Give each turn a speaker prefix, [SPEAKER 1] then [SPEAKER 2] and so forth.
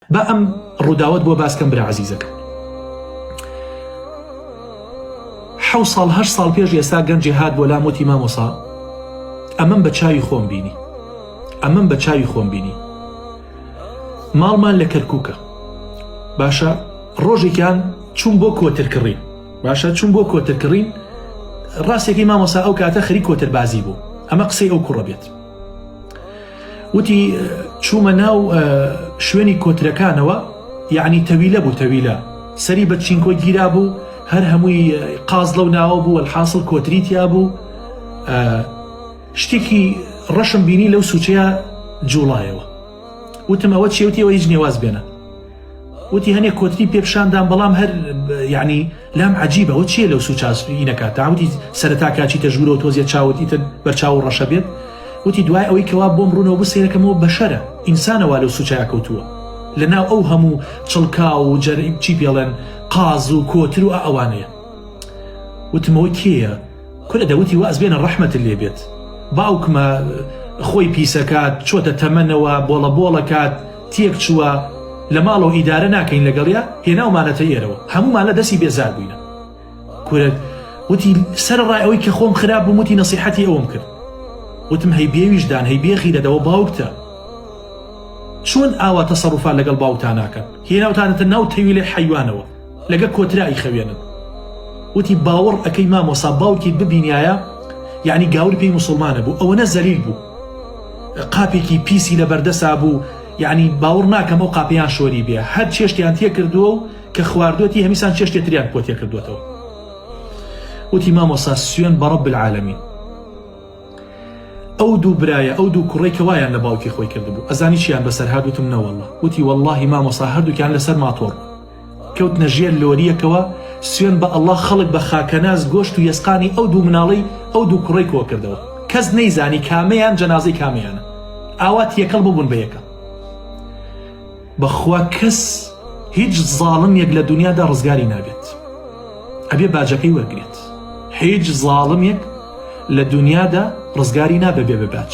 [SPEAKER 1] با ئەم ڕووداوت بۆ باسکەم برا عزیزەکە حو ساڵ هەر ساڵ پێش ئێستا گەنجێ هات بۆ لام وتی مامۆسا ئەمەم بە چاوی خۆم بینی ئەمەم بە چاوی خۆم بینی ماڵمان لە کەرکووکە باشە ڕۆژێکیان چوون بۆ کۆتر کڕین باشە چوون بۆ کۆتر کڕین ڕاستێکی مامۆسا ئەو کاتە خەری کۆتر بازی بوو ئەمە قسەی ئەو کوڕە بێت وتی چوومە ناو شوێنی کۆترەکانەوە یعنی تەویلە بوو تەویلە سەری بە چینکۆ گیرا بوو هەر هەمووی قاز لەو ناوە بوو الحاصل کۆتری تیا بوو شتێکی ڕەشم بینی لەو سوچەیە جوڵایەوە وتم ئەوە چێوتیەوە هیچ نێواز بێنە وتی هەنێ کۆتری پێ پیشاندام بەڵام هەر یعنی لام عجیبەوە چیە لەو سوچاسپی نەکات تاوتی سەرتا کاچیتە ژوورەوە تۆزیە چاوتی تر بەرچاو و ڕەشە بێت وتی دوای ئەوەی کەوا بۆم ڕوونەوە بسێرەکەمەوە بەشەرە ئینسانەوە لەو سوچایا کەوتووە لە ناو ئەو هەموو چڵکا و جەریم چی پێڵێن قاز و کۆتر و ئەوانەیە وتمەوە کێە کورە دەوتی واز بێنە ڕەحمەتت لێ بێت باوکمە خۆی پیسەکات چۆتە تەمەنەوە بۆڵە بۆڵەکات تێک چووە لە ماڵەوە ئیدارە ناکەین لەگەڵیا هێناومانەتە ئێرەوە هەمومان لە دەستی بێزار بووینە کورە وتی سەر ڕای ئەوەی کە خۆم خراپ بووم وتی نەسیحەتی ئەوم کرد وتم هەی بێویژدان هەی بێخی دەدەوە باوکتە چۆن ئاوا تەسەڕوفان لەگەڵ باوکتان ناکەن هێناوتانەتە ناو تەویلێ حەیوانەوە لەگە کۆترا ئیخەوێنن وتی باوەڕ ئەکەی مامۆسا باوکیت ببینایە یعنی گاور پێی مسلمانە بوو ئەوەنە زەلیل بوو قاپێکی پیسی لە بەردەسا بوو یعنی باوەڕ ناکەم ئەو قاپیان شۆری بێ هەر چێشتیان تێ کردووە و کە خواردوەتی هەمیسان چێشتێ تریان پۆ تێ کردوێتەوە وتی مامۆسا سوێن بە ڕەب العالمین ئەو دوو برایە ئەو دوو کوڕی کەوایان لە باوکی خۆی کردبوو ئەزانی چیان بەسەر هادوتم نەوەڵە وتی واللهی مامۆسا هەردووکیان لەسەر ماتۆڕ کەوتنە ژێر لۆریەکەوە سوێن بە ئەڵا خەڵک بە خاکەناز گۆشت و یەسقانی ئەو دوو مناڵەی ئەو دوو کوڕی کۆکردەوە کەس نەیزانی کامەیان جەنازەی کامیانە ئاوا تێکەڵ ببوون بە یەکە بەخوا کەس هیچ زاڵم یەک لە دنیادا ڕزگاری نابێت ئەبێ باجەکەی وەرگێت هیچ زاڵم یەک لە دنیادا ڕزگاری نابێ بێ بە باچ